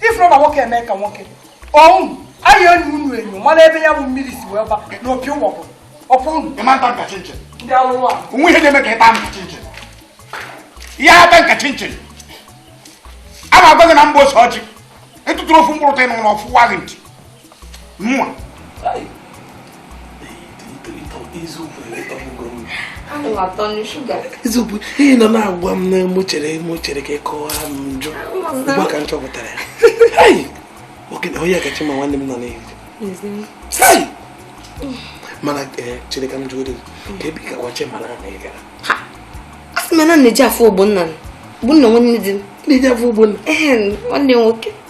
i furu na nwoke emee ka nwoke ọnwụ anyị na unu enyo mara ebe ya bụ mmiri si wee ba n'opi ụgbọgụ ọkwa unu ịma nta nka chinchin ndị alụrụ a o nwe ihe na-eme ka ịta nka chinchin ihe ata nka chinchin a na-agwa gị na mgbe ose ọjị ị tụtụrụ ofu mkpụrụ taa ị nụ na ọ fụwa gị ntị mụnwa eziokwu ị nọ na-agwa m na mụ chere mụ chere ka ị kọwara m njọ ugbu ka m chọpụtara ya onye kacha ma nwanne m nọ n'ihu mana eh, chere ka m jụọ dị ka ebe ị gawa che mara na ị gara a sị na na-eje ịfụ ogbonna ogbonna nwanne di m na-eje ịfụ ogbonna nwanne nwoke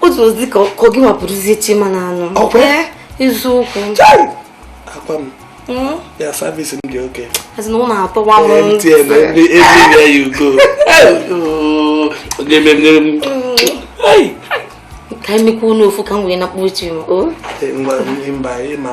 otu ozi ka gị mapụrụzie chima na anụ eziokwu akwa m hmm? ya service m dị okay as in ọ na-atọwa m mtn everywhere you go ga-eme mmiri m ka m mekwanụ ofu ka m wee na-akpọ chima mba ịma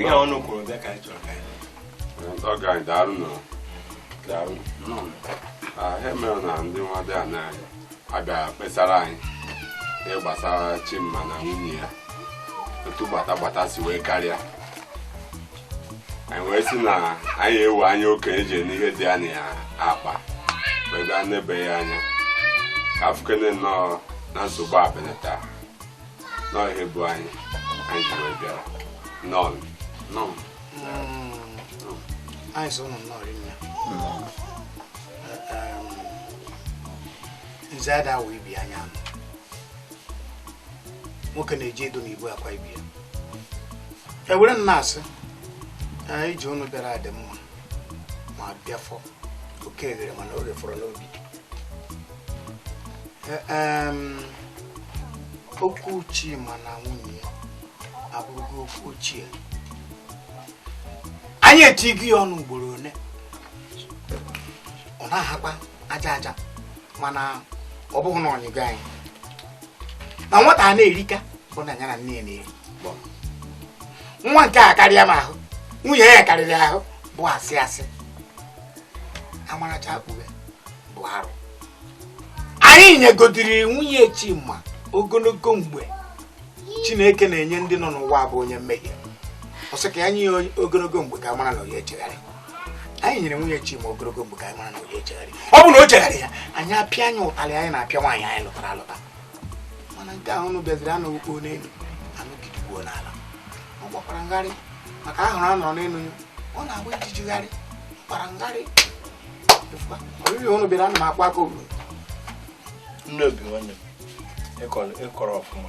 ihe ọnụ kwuru bịa ka anyị chọrọ ka anyị ọga anyị daalụ nụ daalụ nụ ihe mere na ndị nwadịana abịa kpesara anyị ihe gbasara chima na nwunye ya otu gbata gbata si wee karịa anyị wee sị na anyị ewere anya okenye ji ene ihe dị n'akpa wee gaa nebe ya anya ka afụkene nnọọ na nsogbu a benata nọọ ihe bụ anyị anyị ji wee bịara nọọ nọọ anyị sị ụnụ nnọọ rinne nze ada wee bi anya nụ nwoke na-eji edo na igwe akwa ibi ya ewere m na-asị ije ụnụ bịara adị mma ma bịafọ oke eghere mana oge fọrọ n'obi e, okwu chima na nwunye ya abụrụgo okwu ochie anyị etigo ya ọnụ ugboro one ọ na-ahakwa aja aja mana ọ bụghị na ọnyịgo anyị na nwata a na-erika bụ na ya na nne ya na-eri nwoke karịa m ahụ nwunye ya karịrị ahụ bụ asị asị amaracha akpụghe bụ arụ anyị nyegodiri nwunye chima ogologo mgbe chineke na-enye ndị nọ n'ụwa bụ onye mmehie ọ sị ka ya nye ya ogologo mgbe ka a mara na ọ ya echegharị anyị nyere nwunye Chima ogologo mgbe ka anyị mara na ọ ya echegharị ọ bụ na o chegharịghị anyị apịa ya ụtalị anyị na-apịa nwaanyị anyị lụtara alụta mana nke ahụ unu bịaziri anụghị kpoo n'elu anụ gidigbuo n'ala ọ gbakwara m gharị maka ahụrụ a nyụrụ n'elu ya ọ na-agba ijiji gharị gbara m gharị oriri unu bịara ana m akwa aka obodo nne obi nwanne m ị kọrọ ọfụma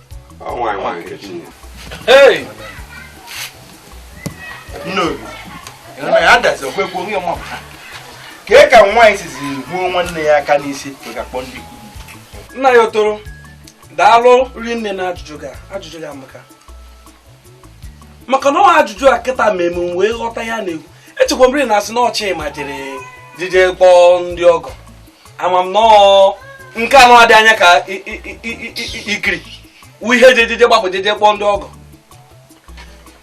kee ka nwaanyị sizi gbuo nwanne ya aka n'isi ga-akpọ ndị nna anyị otoro daalụ rinne na ajụjụ gị amaka maka na ọ ajụjụ a kịta ma eme wee ghọta ihe a na-ekwu echekwa mmiri na asị na ọ chima jere jije kpọọ ndị ọgọ ama m nọọ nke anụ adị anya ka ikiri ihe jejeje gbapụ jeje kpọọ ndị ọgọ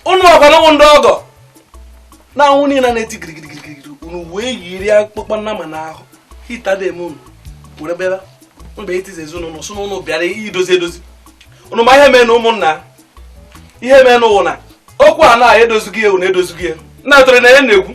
ụnụ makwa na ọ wụ ndị ọgọ na anwụ niile na-eti girigirigirigiri unu wee yiri akpụkpọ nnama n'ahụ hita dị eme unu were bịara unu bịa itizi ezinụlọ sị na ụnụ bịara idozi edozi unu ma ihe mee na ụmụnna ihe mee na ọ wụ na okwu a na-edozighị ewu na edozighị ya na atụrụ na ya na-ekwu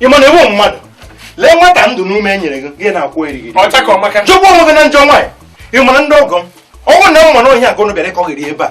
ịma na ị wụ mmadụ lee nwata ndụ n'ume nyere gị gị na-akwụ eriri chụgbu onwe gị na njọ nwaanyị ị mara ndị ọgọ m ọ wụ nnama anụ ọhịa nke ụnụ bịara ịkọgheri ebe a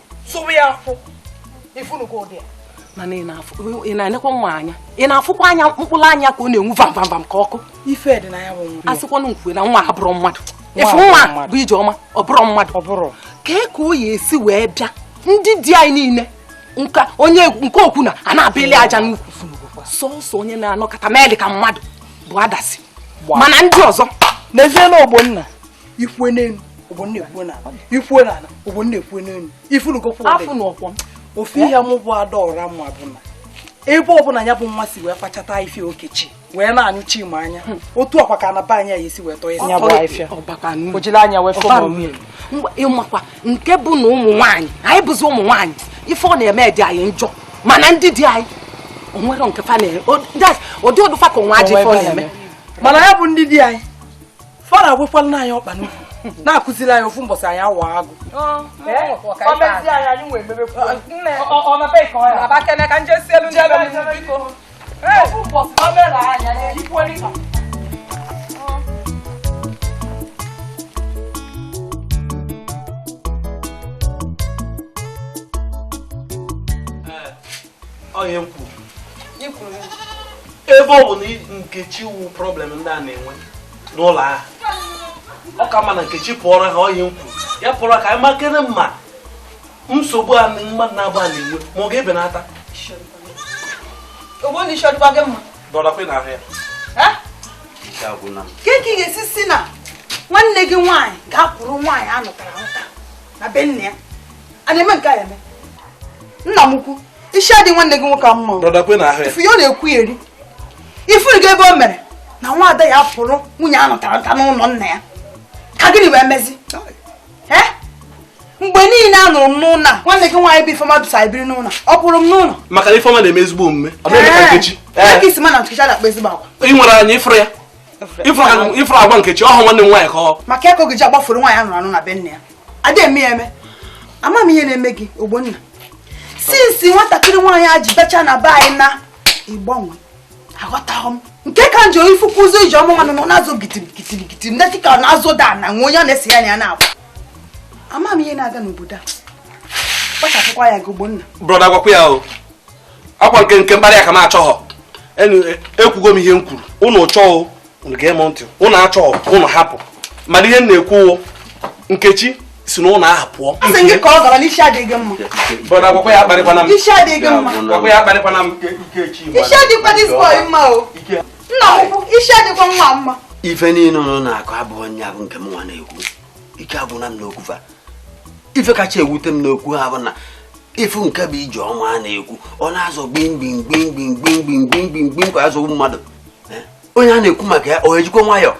sụwa ya afụ ifunugo ụdị ya mana ị na-enekwa nwa anya ị na-afụkwa anya mkpụrụ anya ka ọ na-enwu vam vam vam ka ọkụ ife dị na ya bụ nwa asịkwanụ m kwue na nwa a abụrọ mmadụ ịfụ nwa bụ ijeọma ọ bụrọ mmadụ ọ bụrụ kee ka o ya esi wee bịa ndị di anyị niile nka onye nke okwu na a na-abịali aja n'ukwu sọsọ onye na-anọkata meelị ka mmadụ bụ adasi mana ndị ọzọ n'ezie na ogbonna ikwue n'elu ogbonna ekwue n'ala ikwue n'ala ogbonna ekwue n'elu ịfụlụgokwa afụ na ọkwọ ofu ihe mụ bụ adaọra ma bụ na ebe ọbụla ya bụ nwa si wee kpachata ife okechi wee na-anyụ chima anya hmm. otu ọkwa ka na be anyị ya esi wee tọọ ya nya bụ afịa o jiri anya wee fọọ ịmakwa nke bụ na ụmụ nwaanyị anyị bụzi ụmụ nwaanyị ife ọ na-eme dị anyị njọ mana ndị di anyị onwere nke fa na-eme ọ dị ọ dị fa ka nwa ajọ ife ọ na-eme mana ya bụ ndị di anyị fara agwụkwala na anyị ọkpa n'ukwu na-akụziri anyị ofu mbọsị anyị awa agụ onye kwuru ebe ọ bụ na nkechi wu problem ndị a na-enwe n'ụlọ ahụ ọ ka mma na nkechi pụọrọ ha onye kwuru ya pụọrọ ka anyị makere ma nsogbu a mmadụ naabọ a na-enwe ma ọ ga-ebenata dọrakwe na ahụ kee ka ị ga-esi si na nwanne gị nwaanyị ga-akwụrụ nwaanyị a nụtara anụta na be nna ya a na-eme nke a eme nna m ukwu isi adị nwanne gị nwoke mma ị fụ ya ọ na-ekwuyeri ị fụrụ gị ebe o mere na nwa ada ya pụrụ nwunye a nụtara anụta n'ụlọ nna ya ka gịnị wee mezi mgbe niile a nụrụ m n'ụlọ a nwanne gị nwaanyị bụ ifeọma bisa biri n'ụlọ ọ pụrụ m n'ụlọ maka na ifeọma na-eme ezigbo omume ọ na-eme ka nkechi ị sị m na nkechi na-akpa ezigbo agwa ị nwere anya ịfụrụ ya ị fụrụ agwa nkechi ọhụ nwanne m nwaanyị ka ọ maka ọ ga-eji agbafụrụ nwaanyị anụrụ anụ na be nne ya ada eme ya eme ama m ihe na-eme gị ogbonna since nwatakịrị nwaanyị a ji becha na be anyị na ị gbanwee aghọtaghị m nke ka njọ ị fụkwazi ijeọma nwanụ ọ na-azọ gitirigitiri ndị dịka ọ na-azọda na nwe onye ọ na-esi ya na ya na-agba ama m ihe na-aga n'obodo a kpachapụkwa anya gị ogbonna brọda gwakwa ya o ọ kwa nke nke mkparị ka m achọghọ ekwugo m ihe m kwuru ụnụ chọọ ụnụ gee m ntị ụnụ achọọ ụnụ hapụ mana ihe m na-ekwu nkechi si na ụlọ ahụ pụọ ife niile ụnụ na-akọ abụrọ nya bụ nke m nwa na-ekwu ike agwụna m n'okwu fa ife kacha ewute m n'okwu ha bụ na ịfụ nke bụ ijeọma a na-ekwu ọ na-azọ gbimgbimgbimgbimgbimgbimgbimgbim ka azọgbu mmadụ eh? onye a na-ekwu maka ya ọ ejikwa nwayọọ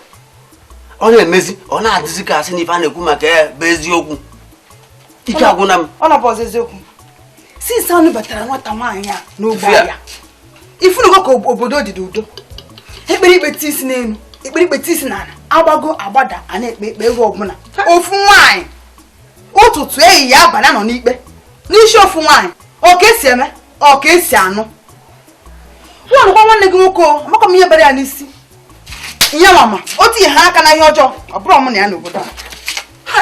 ọ na-emezi ọ na-adịzi ka asị na ife a na-ekwu maka ya bụ eziokwu ike agwụna m ọ na-abụ eziokwu since a nụbatara nwata nwaanyị a n'ogbe a ị fụnugo ka obodo dị n'udo e kpere ikpe tii isi n'elu e kpere ikpe tii isi n'ala agbago agbada a na-ekpe ikpe oge ọbụla ofu nwaanyị ụtụtụ ehihie abalị a nọ n'ikpe n'isi ofu nwaanyị ọ ka e si eme ọ ka e si anụ gwanụkwa nwanne gị nwoke amakọ m ihe bara ya n'isi ihe m ma o tinyeha aka na ihe ọjọọ ọ bụrụ mụ na ya n'obodo a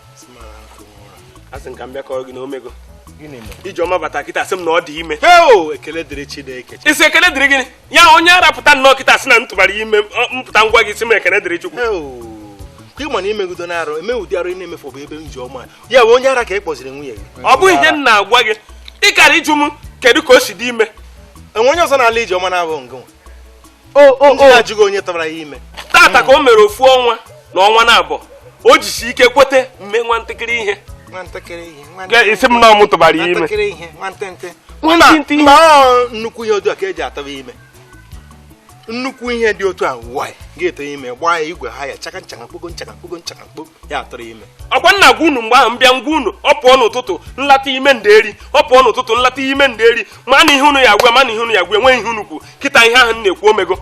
asị m ka m bịa kọrọ gị na o mego ijeọma bata kịta sị m na ọ dị ime ekele dịrị Chineke ị sị ekele dịrị gịnị ya onye ara pụta nnọọ kịta sị na m tụbara ime m pụta m gwa gị ị sị m ekele dịrị Chukwu ka ị ma na imegudo na arụ eme ụdị arụ ị na-emefu bụ ebe ijeọma ya bụ onye ara ka ị kpọziri nwunye gị ọ bụ ihe m na-agwa gị ị kara ịjụ m kedu ka o si dị ime o nwee onye ọzọ na-ala ijeọma na-abụ ngị ajụghị onye tụbara ya ime tata ka o mere ofu ọnwa na ọnwa naabọ o jisi ike kwete m mee nwa ntakịrị ihe ị sị m na ọ mụ tụbara ya ime nnukwu ihe otu a ka e ji atụba ime nnukwu ihe dị otu a nwanyị ga-atụ ime gbaa ya igwe ha ya chaka nchaka mkpogo nchaka mkpogo nchaka mkpo ya tụrụ ime ọkwa m na-agwa unu mgbe ahụ m bịa m gwa unu ọ pụọ n'ụtụtụ ọ lata ime nderi ọ pụọ n'ụtụtụ ọ lata ime nderi ma na ihe unu ya gwa ma na ihe unu ya gwa enweghị ihe unu kwu kịta ihe ahụ m na-ekwu o mego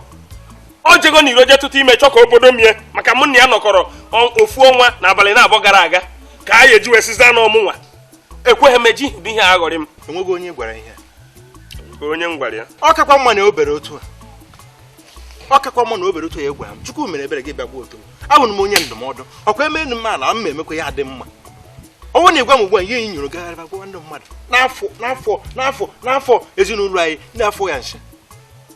o jego n'iro je tụta ime chọọ ka o bodo m ya maka mụ na ya nọkọrọ ofu ọnwa na abalị na-abụọ gara aga ka a ya-eji wee sịzie na ọ mụnwa ekweghị m eji bụ ihe aghọrị m enweghị onye gwara ihe ka onye m gwara ya ọ kakwa mma na obere otu a ọ kakwa mma na obere otu ya egwa m chukwu mere ebere gị bịagwa otu abụrụ m onye ndụmọdụ ọkwa eme enu m ala m emekwa ya dị mma ọ wụrụ na ị gwa m ugbu a ihe nyụrụ gagharịba gwa ndị mmadụ n'afọ ezinụlọ anyị ndị afọ ya nche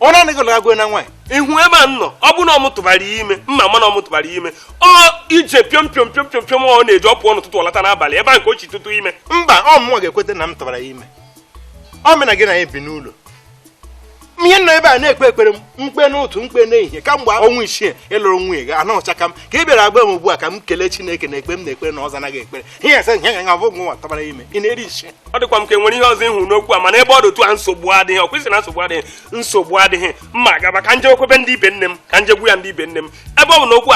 ọ na gị lagwe na nwaanyị ị hụ ebe a nọ ọ bụ na ọ mụ tụbara ya ime ma ma na ọ mụ tụbara ya ime ọ ije piom piom ọ na-eji ọ pụọ n'ụtụtụ ọ lata n'abalị ebe a ka o si tụta ime mba ọ mụnwa ga-ekweta na m tụbara ya ime ọ mụ na gị na ya bi n'ụlọ ihe m nọ ebe a na-ekpe ekpere m kpee n'ụtụtụ m kpee n'ehihie kamgbe ọnwa isii ị lụrụ nwunye gị anọ ọcha ka m ka ị bịara agwa m ugbu a ka m kelee Chineke na ekpe m na-ekpere na ọza naghị ekpere ihe ese ihe nya bụ nwa tụbara ime ị na-eri nsị ọ dịkwa m ka e nwere ihe ọzọ ị hụ n'okwu a mana ebe ọ dị otu a nsogbu adịghị ọ kwesịrị na nsogbu adịghị nsogbu adịghị mma gaba ka m je kwebe ndị ibe nne m ka m je gwa ndị ibe nne m ebe ọ bụ na okwu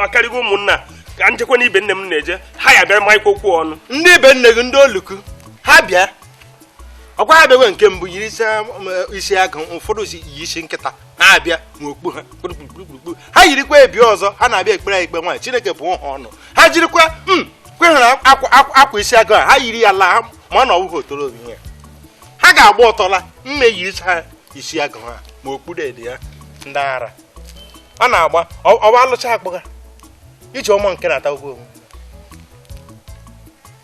akarịgo ụmụnna ka m jekwa n'ibe nne m na-eje ha ya-abịa manyekwa okwu ọnụ ndị ibe nne gị ndị oluku ha bịa ọkwa ha bịawa nke mbụ yiri isi um, isi agụ ụfọdụ si yi isi nkịta na-abịa n'okpu ha kpurukpurukpuru ha yirikwa bịa ọzọ ha na-abịa ekpere ya ikpe nwaanyị Chineke bụọ ha ọnụ ha jirikwa hmm, kweghara akwa isi agụ ha ha yiri ya laa ma na ọ wụghị otoro obi ya ha ga-agba ọtọ laa mme yiricha ha isi agụ ha ma okpuru ede ya ndị ara na-agba ọwa alụcha akpụga Ijeọma nke na-ata ụgwọ onwe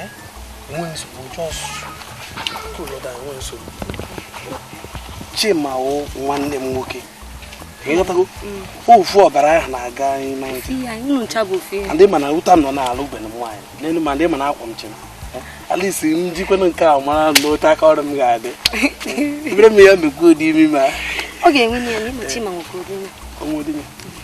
Eh? Enwe nsogbu, just cool down, enwe nsogbu. Chima wụ nwanne m nwoke. ị ghọtago ofu ọbara ahụ na-aga ndị mana ụta nọ n'ala ugbene nwaanyị n'elu ma ndị mana akwa m chere alisi m jikwana nke a mara na otu aka ọrụ m ga-adị ebere m ya mekwa ụdị imi ma ọ ga-enwe ya na ịmachi ma nwoke ụdị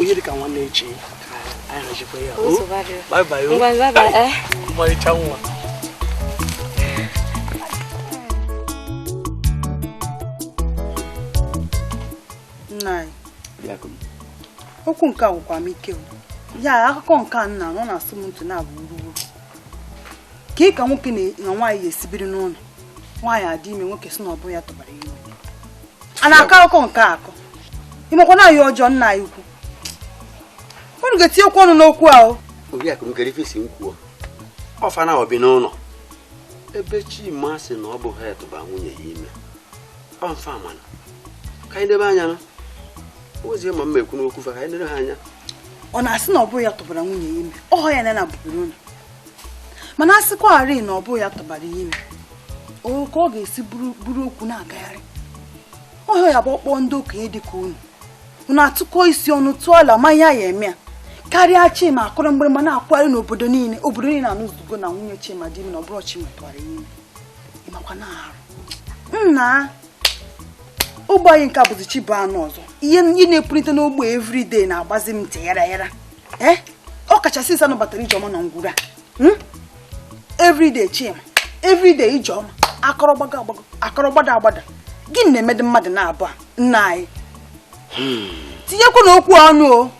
onye dịka nwanne echi anyị hajikwa ya ọmarịcha oh, nna okwu nke a agwụkwa m ike ya akụkọ nke a nna ọ na-asụ m ntị na-abụ kee ka nwoke na nwaanyị ya-esi biri n'ụlọ nwaanyị adị ime nwoke sị na ọ bụghị ya tụbara ime a na-akọ akụkọ nke a kọọ ị makwa na ọ ihe ọjọọ nna anyị ukwu unu ga-etinye okwu ọnụ n'okwu ahụ oriakụ m kee ife ị sị m kwuo ọ fa nabọ bi n'ụlọ ebe Chima sị na ọ bụghị ya tụba nwunye ya ime ọmfa mana ka anyị debe anya na ozie ma mma ekwu n'okwu fa ka anyị lere ha anya ọ na-asị na ọ bụghị ya tụbara nwunye ya ime ọhọ ya na na bụbụrụ ụlọ mana a sịkwarị na ọ bụghị ya tụbara ya ime o ka ọ ga-esi buru okwu na-agagharị ọhọ ya bụ ọ kpọọ ndị okenye dị ka unu unu atụkọ isi ọnụ tụọ alo ma ihe a ya-eme ya karịa chima akụrụ mgbịrịgba na-akụgharị n'obodo niile obodo niile anụzugo na nwunye chima dị ime na ọ bụrọ chima tụwara ya ime ị makwa na arụ nna ogbe anyị nke a bụzi chi bọọ a nụ ọzọ ihe ndị na-epulite n'ogbe everyday na-agbazi m ntị yara yara ee ọ kacha since a nụbatara ijeọma na ngwuru a hmm? everyday chima everyday ijeọma a kọrọ gbago agbago a kọrọ gbada agbada gịnị na-emedị mmadụ naabọ a nna anyị hmm. tinyekwa na okwu a ọnụ o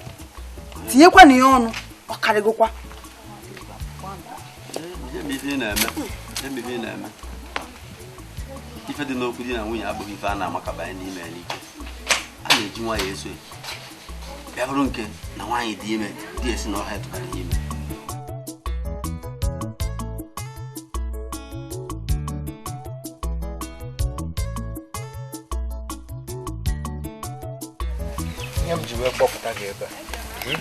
tinyekwa na ya ọnụ ọ karịgokwa ife dị n'okwu di na nwunye abụghị ife a na-amakabanye n'ime n'ike a na-eji nwayọ eso ya bịa bụrụ nke na nwaanyị dị ime di ya sị na ọhọ ya tụbara ya ime ihe m ji wee kpọpụta gị ebe a hmm?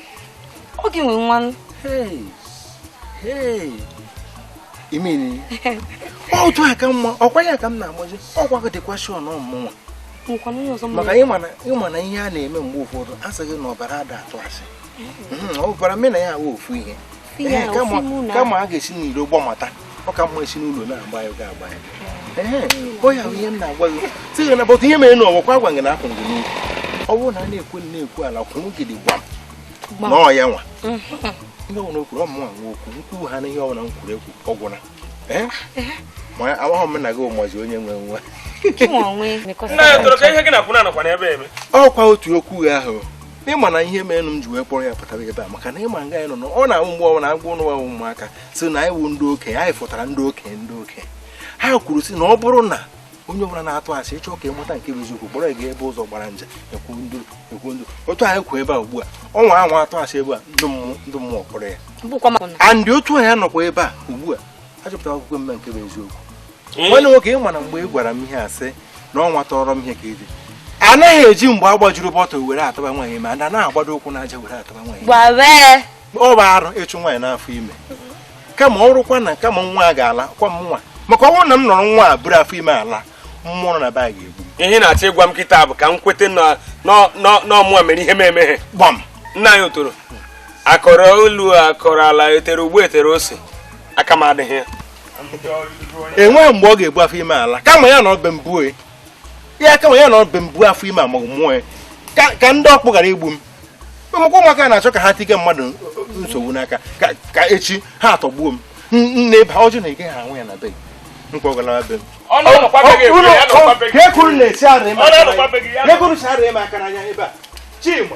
ọ gị nwe nwa imeni otu a ka mma ọkwa ya ka m na-agbazi ọkwa gị dịkwa sure na ọ mụnwa maka ị ma na ihe a na-eme mgbe ụfọdụ a sị gị na ọbara ada atụ asị ọbara m na ya awụ ofu ihe kama a ga-esi n'iro gbamata ọ ka mma e si n'ụlọ na-agba ya ga agba ya ọ ya ihe m na-agwa gị sị gị nabata ihe mere na ọ gwakwa agwa gị na akwụ gị n'ukwu ọ bụrụ na a na-ekwe na-ekwu ala kwụrụ gidigbam na ọ ya nwa ihe ọbụla o kwuru ọ mụnwa nwe okwu nkwuwu ha na ihe ọbụla m kwuru ekwu ọ gwụna ma amaghị m na gị ụmụzi onye nwe nwa ọkwa otu okwu ahụ ị ma na ihe mere m ji wee kpọrọ ya pụtawa ebe a maka na ị ma nga anyị nọ na ọ na-awụ mgbe ọbụla a gwa ụnụ wụ ụmụaka sị na anyị wụ ndị okenye anyị fụtara ndị okenye ndị okenye ha kwuru sị na ọ bụrụ na onye ọbụla na-atụ asị ị chọọ ka ị mata nke bụ eziokwu kpọrọ gị ebe ụzọ gbara nje ekwu ndụ ekwu ndụ otu anyị kwụ ebe a ugbu a ọ nwaa anwa atụ asị ebe a ndị mmụọ kpọrọ ya and otu anyị nọkwa ebe a ugbu a achọpụta akwụkwọ mme nke bụ eziokwu nwanne nwoke ị ma na mgbe ị gwara m ihe a sị na ọnwa tọrọ m ihe ka ịdị anaghị eji mgbe agbajuru bọtụl were atụba nwaanyị ime and anaghị agbado ụkwụ n'aja were atụba nwaanyị ọ bụ arụ ịchụ nwaanyị n'afọ ime kama ọ rụkwa na kama nwa a ga-ala kwa m nwa maka ọ bụrụ na m nọrọ nwa a buru afọ ime ala mmụọ nọ na be a ga-egbu ihe ị na-achọ ịgwa m kịta bụ ka m kweta na ọ mụa mere ihe m emeghe gbam nna anyị otoro a kọrọ elu a kọrọ ala e tere ugba e tere ose aka m adịghị ya enweghị mgbe ọ ga-ebu afọ ime ala kama ya nọ be m buo ya kama ya nọ be m buo afọ ime ma mụọ ya ka ndị ọkpụ ghara igbu m ụmụkwụ ụmụaka na-achọ ka ha tige mmadụ nsogbu n'aka ka echi ha atọgbuo m nne ba ọjụ na ị gaghị anwụ ya na be nkwa ọgalawa be m na-esi arị m aka n'anya ebe a chima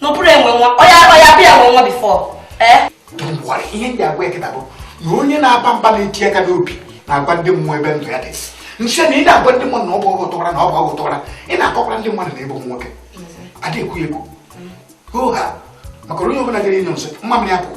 na ọ bụrụ enwe nwa ọ ya-abịa bịa nwe nwa before ee Don't worry, ihe m ji agwa gị kịta bụ na onye na-aba mba na-eti aka n'obi na-agwa ndị mmụọ ebe ndụ ya dị m sị na ị na-agwa ndị mmadụ na ọ bụ gị tụwara na ọ bụ gị tụwara ị na-akọkwara ndị mmadụ na ịbụ nwoke adịghị ekwu ya ekwu hoo ha maka onye ọbụla gara ịnyụ nsị mamịrị ya pụọ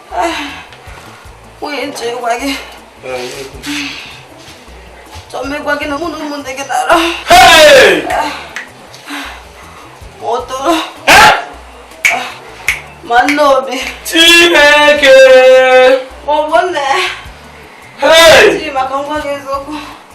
nwunye nche gwa gị chọọ megwa gị na mụ na ụmụnne gị na-ara ụtụrụ ma nne obi chineke maọbụ nne Chima ka m gwa gị eziokwu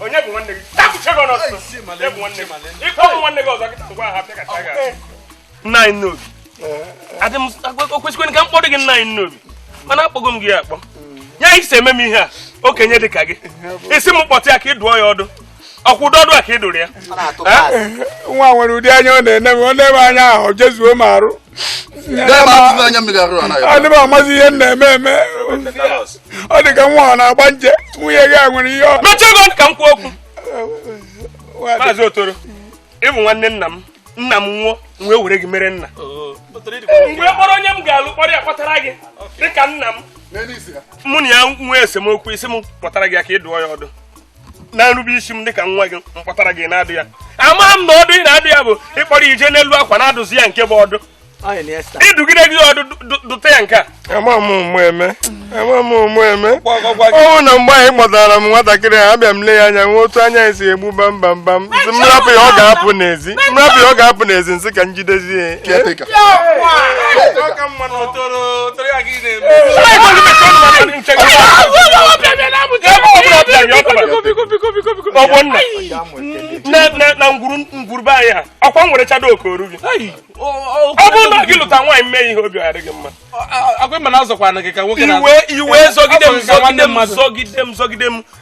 onye bụ nwanne gị tapụcha gị ọnọsọ onye bụ nwanne gị ị kpọọ mụ nwanne gị ọzọ gị ngwa ha pịakacha gị nna anyị n'obi adị m okwesịkwene ka m kpọrọ gị nna anyị n'obi mana akpọgo m gị akpọ ya ị si eme m ihe a okenye dị ka gị ị sị m kpọta ya ka ị dụọ ya ọdụ ọkwa ụdị ọdụ a ka ị dụrụ ya nwa a nwere ụdị anya ọ na-ene m o nee m anya ahụ jezuo m arụ adị m amazi ihe m na-eme eme ọ dị ka nwa ọ na-agba nje nwunye gị a nwere ihe ọ mechie ọnụ gị ka m kwuo okwu maazị otoro ị bụ nwanne nna m nna m nwụọ m wee were gị mere nna oh, m wee kpọrọ onye m ga-alụ kpọrọ ya kpọtara gị dịka nna m mụ na ya nwee esemokwu ị sị m kpọtara gị ya ka ị dụọ ya ọdụ na nrube isi m dịka nwa gị m kpọtara gị na-adụ ya ama m na ọdụ ị na-adụ ya bụ ịkpọrọ ya jee n'elu akwa na-adụzi ya nke bụ ọdụ ị dụgide ya ọdụ dụta ya nke a ama m ụma eme ama m ụma eme ọ bụ na mgbe ị kpọtara m nwatakịrị a bịa m lee ya anya nwa otu anya esi egbu bambambam m rapụ ya ọ ga-apụ n'ezi m rapụ ya ọ ga-apụ n'ezi m sị ka m jidezie na ngwuru be anyị a ọkwa nwere chado okoru gị ọ bụrụ na gị lụta nwaanyị mee ihe obi adịghị mma iwe iwe zọgide m zọgide m zọgide m zọgide m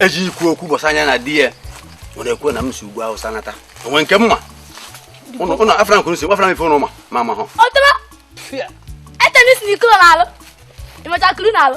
eji ikwu okwu gbasara nwanyị na di ya ọ na-ekwe na m si ugwu awụsa nata o nwe nke m ma ụnụ afra nkuru si gbafara m ife ụnụ ma ma ma hụ etenis na ikolo na-alụ ịmacha kuru na-alụ